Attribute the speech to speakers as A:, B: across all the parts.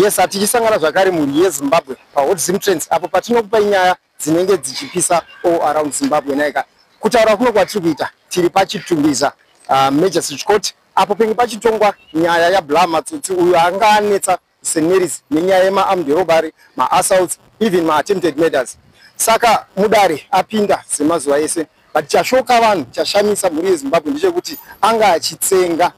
A: yes hatichisangana zvakare mhuri yezimbabwe pahot zim trends apo patinokupai nyaya dzinenge dzichipisa all around zimbabwe naika kutaura kuno kwatiri kuita tiri pachitumbiza uh, major switch court apo penge pachitongwa nyaya yablah matsotsi uyo anga anetsa St Mary's nenyaya yema armed robbery, ma assaults, even ma attempted murders. Saka mudare apinda semazuva ese but chashoka vanhu chashamisa mhuri yezimbabwe ndechekuti anga achitsenga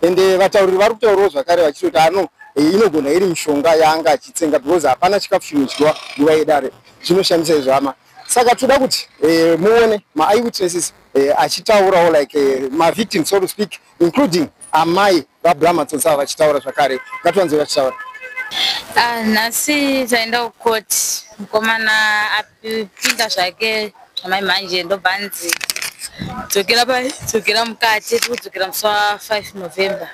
A: ende vatauriri vari kutaurawo zvakare vachitoti ano eh, inogona iri mishonga yaanga achitsenga because hapana chikafu chinodyiwa nguva yedare zvinoshamisa izvo hama saka toda kuti eh, muone maeyewitnesses eh, achitaurawo like mavictim so to speak including amai vabrahma tsotsi ava vachitaura zvakare ngatiwanzei vachitaura ah, nhasi
B: taenda kucourt mukomana apinda zvake zvamai manje ndobva anzi dzokera pai dzokera mukati tiri kudzokera musi wa 5 november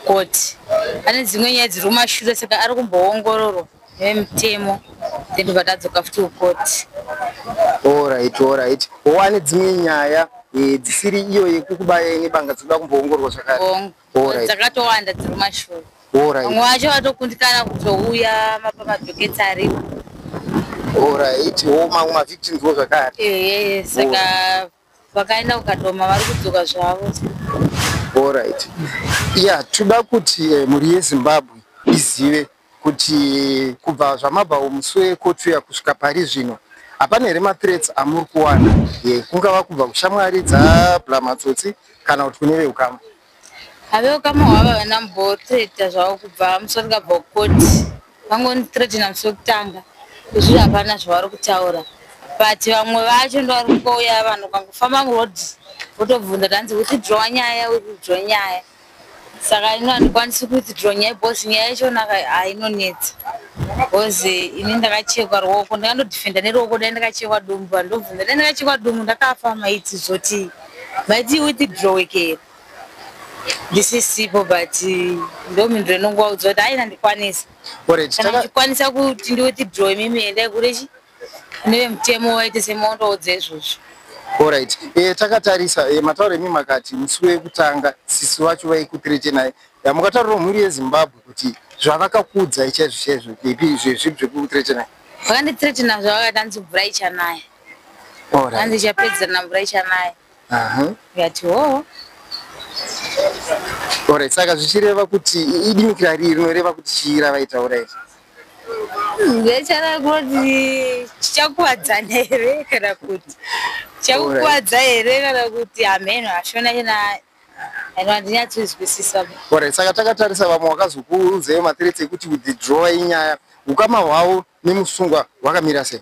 B: kukoti ane dzimwe nyaya dziri kumashure saka ari kumboongororwa vemutemo then tobva tadzoka futi kukoti orit orit
A: one dzimwe nyaya eh, dzisiri iyo yekukubaya ine banga dzinoda kumboongorwa zvakaretakatowanda
B: dziri mashoo vamwe vacho vatokundikana kutouya mapa madhoketi ariwo orit o
A: mamwe mavictims wo zvakare ehe saka
B: vakaenda kukadoma vari kudzoka zvavo allright
A: ya toda kuti eh, mhuri yezimbabwe izive kuti eh, kubva zvamabva umusi wekotu ya kusvika pari zvino hapana here mathreats amuri kuwana ye kungava kubva kushamwari dzabla matsotsi kana kuti kune veukama Avewo kama
B: hwava havana mbothreater zvavo kubva musi wandikabva kukoti vangondithreatena musi wekutanga izviri hapana zvavari kutaura but vamwe vacho ndovari kungouya vanhu ukangofamba muroad votobvunza tanzi withdrowa nyaya withdrowa nyaya saka ino handikwanisi kuwithdrow nyaya bcause nyaya yachonaka hainonetsa bcause eh, ini ndakachekwa ruoko ndakandodefenda neruoko dai ndakachekwa dumbu handobvunza dai ndakachekwa dumbu ndakafa maiti zvotii Maiti withdraw ke. This is simple but eh, ndo mindro inongowa udzo kuti aina ndikwanisa. Alright. Kana ndikwanisa kuti ndi withdraw mimi enda kure chi. Neve mutemo waite semondo dzezvozvo. Alright. Eh
A: takatarisa eh mataure mimi makati musi wekutanga sisi wacho vaikutirete naye. Yamukataura mhuri yeZimbabwe kuti zvavakakudza ichezvo chezvo ipi zvezvi zvekutirete naye. Vakanditiretina
B: zvavakati anzi mvura ichanaya. hanzi ichapedzerana mvura ichanaya ndikati hoo
A: orit saka zvichireva kuti idimikira rii rinoreva kuti chii ravaitaura iri ndechareva
B: kuti chichakuvadzana here kana kuti chakukuvadza here kana kuti hameno hashona chena and handinyatsonzwisisa ore saka
A: takatarisa vamwe wakazokuudzei mathreats ekuti withdrawa inyaya ukama hwavo nemusungwa hwakamira sei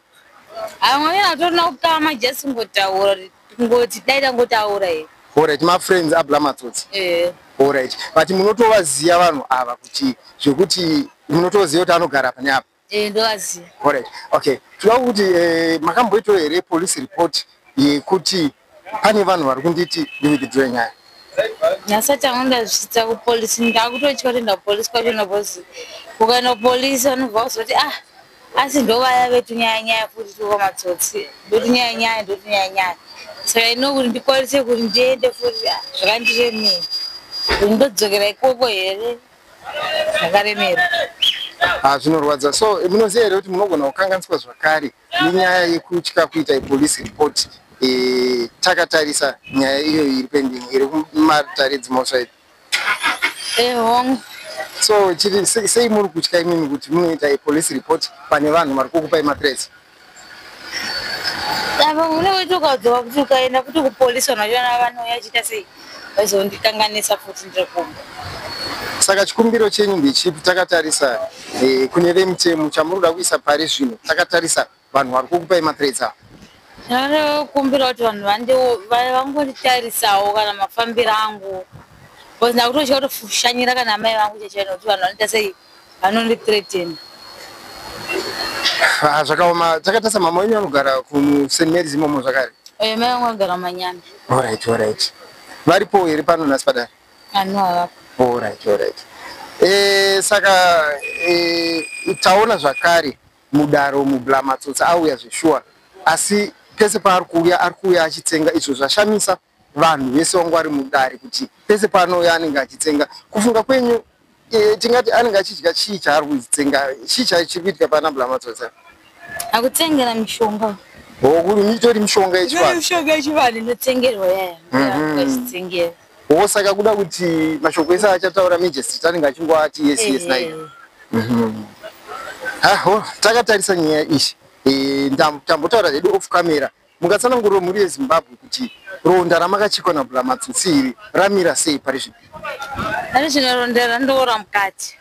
A: amwamira
B: atorina ukama just kungotaura kungoti dai tangotaura here orit mafriends abla
A: matsotsi eh. orit but munotovaziva vanhu ava kuti zvekuti munotoziva kuti anogara pane apa Eh ndovaziva.
B: Alright. Okay.
A: Tinoda kuti eh, makamboito here police report yekuti pane vanhu vari kunditi ndivikidzwe nyaya. Nyasati
B: angu ndazvita ku police ndakutotya kuenda ku police kwacho na boss. Ukaenda ku police vanobva kuzoti ah asi ndovaya vetu nyaya nyaya futi tuko matsotsi. Ndotu nyaya nyaya ndotu nyaya nyaya. So I know kuti ndikwanise kuti ndiende futi ah, zvakandire mimi. Ndodzokera ikoko here. zvakaremera Ah,
A: zvinorwadza so munoziva here kuti munogona kukanganiswa zvakare nenyaya yekutya kuita ipolice report eh, takatarisa nyaya iyo iri pending iri kumatare dzimosva ipi eh, hongu so chiri sei muri kutya imimi kuti munoita ipolice report pane vanhu vari kukupai matresi
B: apa mune weti ukaudzwa kuti ukaenda kuti kupolisi vanhu vachiona vanouya chiita sei vaizondikanganisa futi ndiri kumba saka
A: chikumbiro chenyu ndechipi takatarisa eh, kune vemitemo chamuri kuda kuisa pari zvino takatarisa vanhu vari kukupai mathreats ava ndinokumbira
B: kuti vanhu vangonditarisawo kana mafambiro angu bcause ndakutotya kutoshanyira kana amai vangu chachai nokuti vanhu vanoita sei anondi threaten
A: ah, zvakaoma chakatasa mama wenyu anogara kuSt Mary's imomo zvakare eh mai wangu agara
B: manyana all right all right
A: varipo here pano nhasi padare ano havapo
B: all right all right eh
A: saka eh taona zvakare mudaro mublamatsotsa auya zveshuwa asi pese paari kuuya ari kuuya achitsenga izvo zvashamisa vanhu vese wangu vari mudare kuti pese paanouya anenge achitsenga kufunga kwenyu e, tingati anenge achidya chii chaari kuzitsenga chii chai chiri kuitika pana blamatsotsa akutsengera
B: mishonga hokuri
A: mitori mishonga yechivanhmishonga yechivanhu
B: inotsengerwa yaya mhm. achitsengera wo saka
A: kuda kuti mashoko ese achataura majestrit anenge achingoati yes yes nai eh. mhm. aho takatarisa nyaya ichi eh, tambotaura hedu off camera Mungatsananguriro mhuri yeZimbabwe kuti ronda ramakachikwa naBhulamatsotsi iri ramira sei pari zvino? Ari zvino
B: ronda randoora mukati.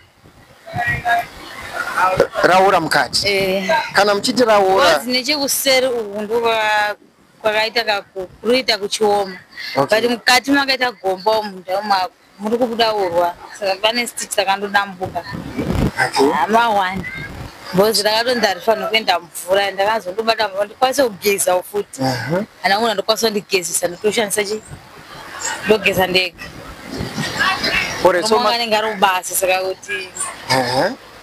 A: Raora mukati? Eh. Kana muchiti raora? Wazi nechekuseri uku
B: ndova kwakaita kakuruita kuchioma. Okay. But mukati makaita gomba munda mwako. muri kubuda urwa saka pane stich takandodambuka amawani bhozi rakatonzi harifanira kuenda mvura ndakazondobata mvura ndikwanise kugezawo futi kana una ndokwanisa kundigezisa ndotoshandisa chi ndogeza ndega anenge ari kubasa saka kuti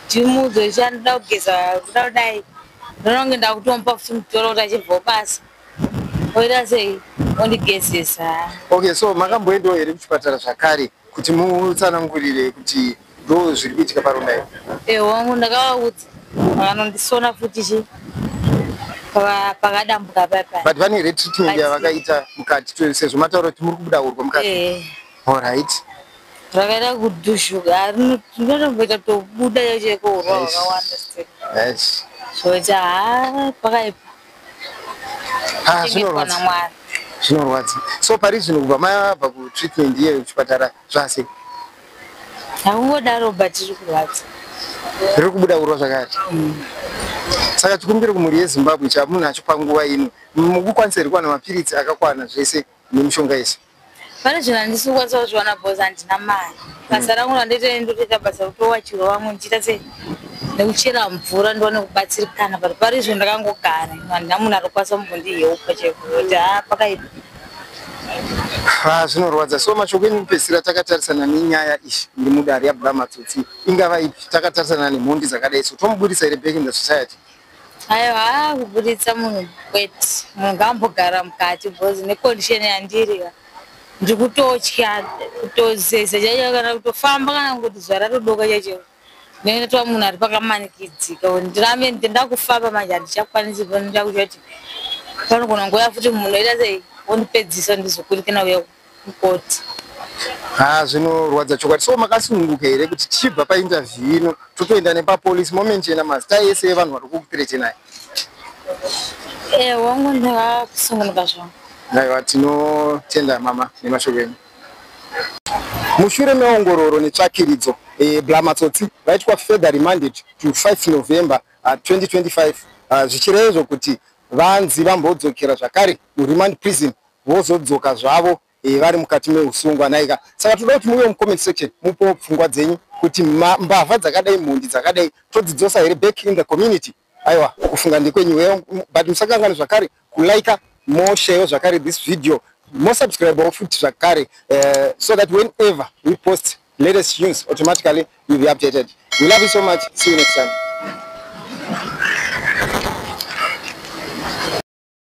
B: chimudzo chanoda kugeza kuda kudai ndononge ndakutomupa futi mutoro kuti achibvawo basa Oita sei? Ondigezesa. Okay, so
A: makamboendawo here kuchipatara zvakare kuti mutsanangurire kuti ndo zviri kuitika paronda iri? Eh, wangu
B: ndakavaudza. Vanondisona futi chi pakadambuka papa. But vane red treatment
A: yavakaita mukati sezvo mataura kuti muri kubuda urwa mukati. Eh. All right. Rakaita
B: kudushuka, rinotomboita tobuda cheko urwa hwakawanda. Yes. Yes. Zvoita haa pakaipa. Ah,
A: zvinorwadza zvinorwadza so pari zvino kubva mabva kutreatment iye kuchipatara zvase
B: haungodaro but riri kurwadza riri kubuda
A: kurwa zvakati mm. saka chikumbiro kumhuri yezimbabwe chamunhu acho panguva ino mukukwanisa here kuwana mapiritsi akakwana zvese mm. nemushonga yese pane zvinhu handisi
B: kukwanisa kuzviwana bcause handina mari basa rangu randoita ndotoita basa rekutowachiwa vamwe ndichiita se nekuchera mvura ndiwane kubatsirikana but pari izvo ndakangogara handina munhu arikukwanisa kumbondiyeupa chekuti ha pakaipa ha
A: zvinorwadza so mashoko enyu kupedzisira takatarisana nenyaya izvi ndimudari yabuda matsotsi ingava ipi takatarisana nemhondi dzakadai so tomuburitsa here back in the society Ayo haa
B: kuburitsa munhu kwete munhu ngambogara mukati because necondition yandiri ndiri kutotya kutozeza chaicho kana kutofamba kana kuti zuva ratodoka chaicho nekuti munhu ari pakamanikidzika ndirambe ndakufamba manje handichakwanisi ndakuti panogona nguva futi munhu oita sei wondipedzisa ndizokurikana uya mukoti. Haa
A: zvinorwadza chokwadi. So makasununguka here kuti tichibva painterview ino totoenda nepapolice momenchena mazita ese evanhu vari kukuperechenai? Ehe
B: wangu ndava kusungunuka zvangu. Aiwa
A: tinotenda mama nemashoko enyu. Mushure meongororo netsvakiridzo, eh, bla matsotsi vaitwa further remanded to 5 November uh, 2025 uh, zvichireva izvo kuti vanzi vambodzokera zvakare muremand prison vozodzoka zvavo eh, vari mukati meusungwa naika saka toda kuti muve mucomment section mupo pfungwa dzenyu kuti mbavha dzakadai mhondi dzakadai todzidzosa here back in the community aiwa kufunga ndikwenyu eh, but musakangani zvakare kulika mosheyo zvakare this video mosubscribewo futi zvakare eh, so that whenever we post latest news automatically you'll be updated we love you so much see you next time